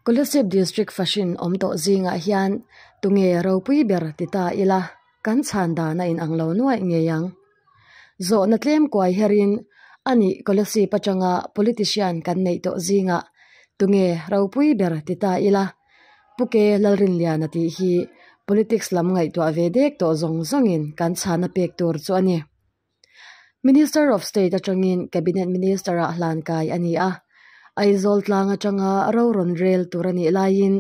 Kolasib District Fashin awm tawh zingah hian tunge ropui ber ti ta ila kan chhan dan a inang lo nuaih ngei ang. Zawhna tlem kuai herin a nih Kolasib atanga politician kan neih tawh zingah tunge ropui ber ti ta ila Puke Lalrinliana tih hi politics lam ngaihtuah ve dek tawh zawng zawngin kan chhana pek tur chu a ni. Minister of State atangin Cabinet Minister ah hlan kai a ni a, Aizawl tlang atanga rorawn rel tur a nih laiin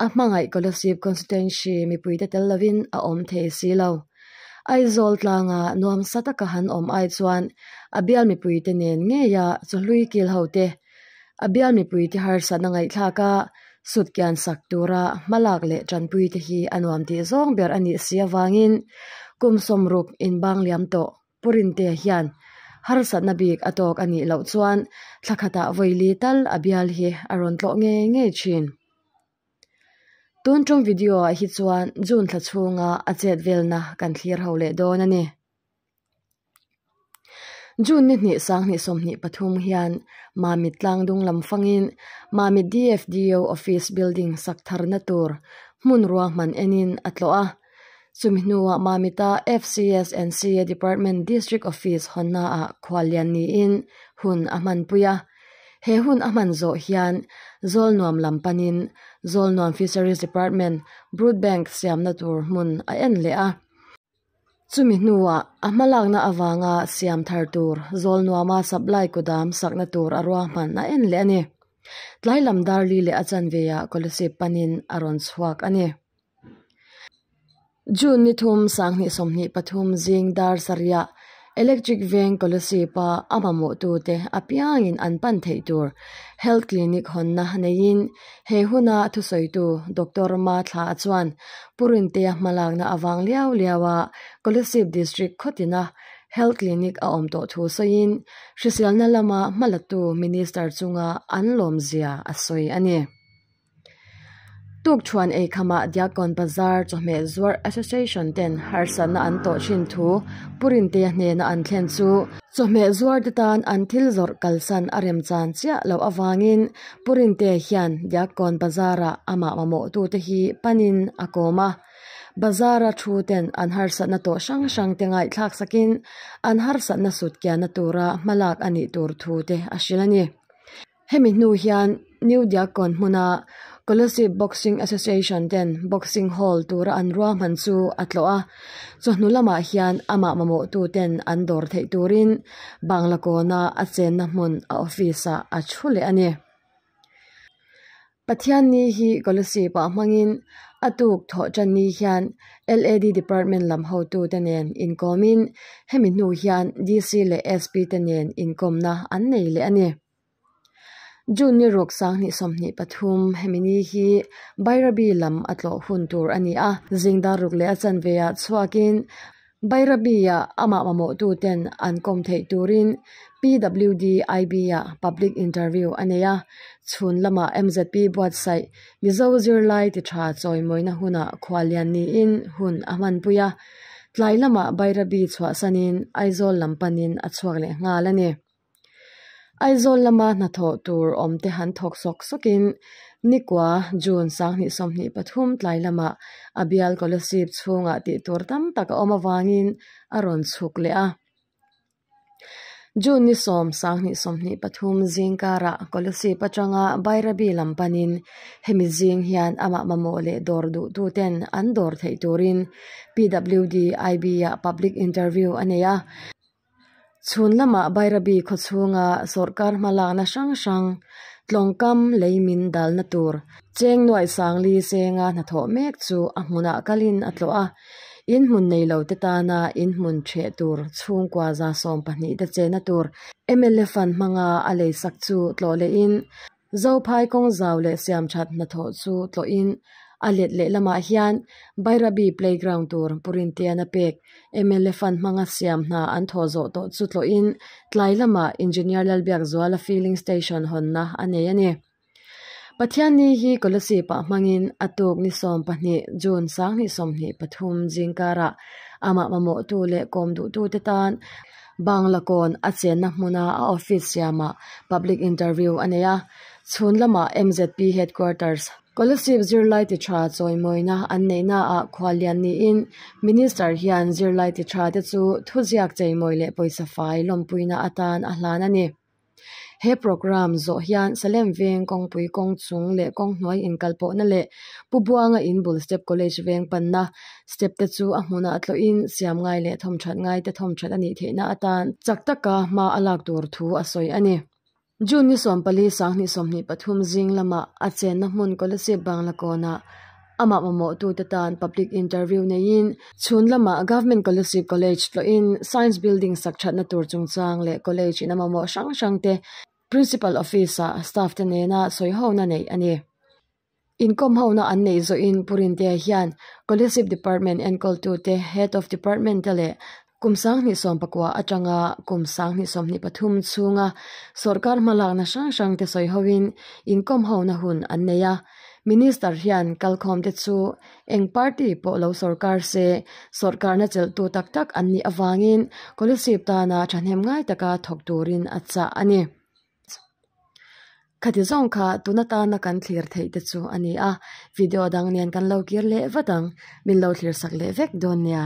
a hmangaih Kolasib constituency mipuite tel lovin a awm thei si lo. Aizawl tlanga nuam sa taka han awm ai chuan a bial mipuite nen ngeia chawhlui kil hote A bial mipui te harsatna ngaihthlak a sut kian sak tura hma lak leh tanpui te hi a nuam tih zawng ber a nih si avangin kum sawm ruk in bang liam tawh Purin te hian harsatna bik a tawk a nih loh chuan thla khatah vawi li tal a bial hi a rawn tlawh ngei ngei thin. Tun ṭawng video-ah hi chuan June thla chhunga a chet velna kan thlir ho leh dawn a ni. June ni hnih sang hnih sawmhnih pathum hian Mamit tlang dunglam fangin Mamit DFDO office building sak tharna tur hmun ruahman enin a tlawh a. Chumi hnuah Mamita FCS and CA Department District Office hawnna ah khual lian niin hun a hmanpui a. He hun a hman zawh hian Zawlnuam lam panin Zawlnuam Fisheries Department Brood Bank siamna tur hmun a en leh a. Chumi hnuah, a hmalakna avanga siam thar tur Zawlnuama supply kutdam sakna tur a ruahman a en leh a ni. Tlailam Darli leh a chanveia Kolasib panin a rawn chhuak a ni. June ni thum, sang hnih sawmhnih pathum zing Darsaria Electric veng Colosseap a a mamawhtute apiangin an pan theih tur Health Clinic hawnna neiin he huna thusawitu Doctor Ma Thla'a chuan Purinteia hmalakna avang liau liaua Colosseap District khawtina Health Clinic a awm tawh thu sawiin hriselna lama hmalatu Minister chunga an lawmzia a sawi a ni. Tukṭhuan eikhamah Diakon Bazar Chawhmeh Zuar Association ten harsatna an tawh ṭhin thu Purinte hnena an thlen chu Chawhmeh Zuar te tan an thil zawrh kalsan a remchan chiah loh avangin Purinte hian Diakon Bazar ah amah mamawhtu te hi panin a kawm a. Bazar a ṭhu ten an harsatna tawh hrang hrang te ngaihthlak sakin an harsatna sut kiahna tura hmalak a nih tur thu te a hrilh a ni. Hemi hnu hian New Diakon hmuna Colosseum Boxing Association ten boxing hall tura an ruahman chu a tlawh a, chawhnu lamah hian amah mamawhtu ten an dawr theih turin Banglakawn a a chenna hmun a office ah a thu leh a ni. Pathian ni hi Colossae pah hmangin a tuk thawh tan ni hian LAD Department lam hotute nen inkawmin hemi hnu hian DC leh SP te nen inkawmna an nei leh a ni. June ni ruk sang hnih sawmhnih pathum hemi ni hi Bairabi lam a tlawh hun tur a ni a, zingdar ruk leh a chanvei ah chhuakin Bairabia amah mamawhtuten an kawm theih turin PWDIB-a public interview a nei a, chhun lama MZP buatsaih Mizo zirlai ti tha chawimawina huna khua lian niin hun a hmanpui a, tlai lama Bairabi chhuahsanin Aizawl lam panin a chhuak leh nghal a ni. Aizawl lama hnathawh tur awmte han thawk sawk sawkin nikua June sanghnih sawmhnih pathum tlai lama a bial kolasib chhunga tih tur tam tak a awm avangin a rawn chhuk leh a. June ni sawm sanghnih sawmhnih pathum zingkara kolasib atanga Bairabi lam panin hemi zing hian amah mamawh leh dawr duhtu ten an dawr theih turin PWD IB-ah public interview a nei a. Chhun lama Bairabi khawchhunga sawrkar hmalakna hrang hrang tlawngkam lei min dalna tur Chengnuai Sangli Senga hnathawh mek chu a hmunah kalin a tlawh a, inhmun nei lo te tana inhmun chheh tur chhungkua zasawm pahnih te chena tur mlfan hmanga a leisak chu tlawh lehin Zophai kawng zau leh siamthat hnathawh chu tlawhin a let lehlamah hian Bairabi Playground tur purintian a pek. Mla fan hmanga siam hna an thaw zawh tawh chu tlawhin tlai lamah Engineer Lalbiakzuala Filling Station hawnna a nei a ni. Pathian ni hi Kawlasi pah hmangin a tuk ni sawm pahnih, June sang hnih sawmhnih pathum, zingkarah amah mamawhtu leh kawm duhtute tan, Banglakawn a chenna hmuna a office siamah public interview a nei a, chhun lamah MZP headquarters. Scholarship zirlai ti tha chawimawina an neihnaah Khualian niin Minister hian zirlai ti thate chu thuziak cheimawi leh pawisa fai lawmpuina atan a hlan a ni. He programme zawh hian Salem veng kawngpui kawng chung leh kawng hnuai inkalpawhna leh Pu Buanga inbul step college veng panna step te chu a hmun ah tlawhin siam ngai leh thawm that ngai te thawm that a nih theihna atan chak taka hma a lak tur thu a sawi a ni. June ni sawmpali, Sanghnih sawmhnih pathum zinglam ah a chenna hmun Colosseum Banglakawn ah Amah mamawhtute tan public interview neiin chhun lamah Government Kallusi College tlawihin Science Building sak thatna tur chungchang leh college ina mamawh hrang hrangte Principal Office ah staff te nena sawi hona neih a ni. Inkawm hona an neih zawhin Purintea hian Collesip Department enkawltute, Head of Department te leh Kum sanghnih sawm pakua atanga kum sanghnih sawmhnih pathum chhunga sorkar hmalakna hrang hrangte sawi hoin inkawmhona hun an nei a. Minister hian kalkhawmte chu eng party pawh lo sorkar se sorkarna chelhtu tak tak an nih avangin Kolasib tana thahnem ngai taka thawk turin a chah a ni. Khati zawng kha tuna tana kan thlir theih te chu a ni a, video dang nen kan lo kir leh vat ang, min lo thlir sak leh vek dawn nia.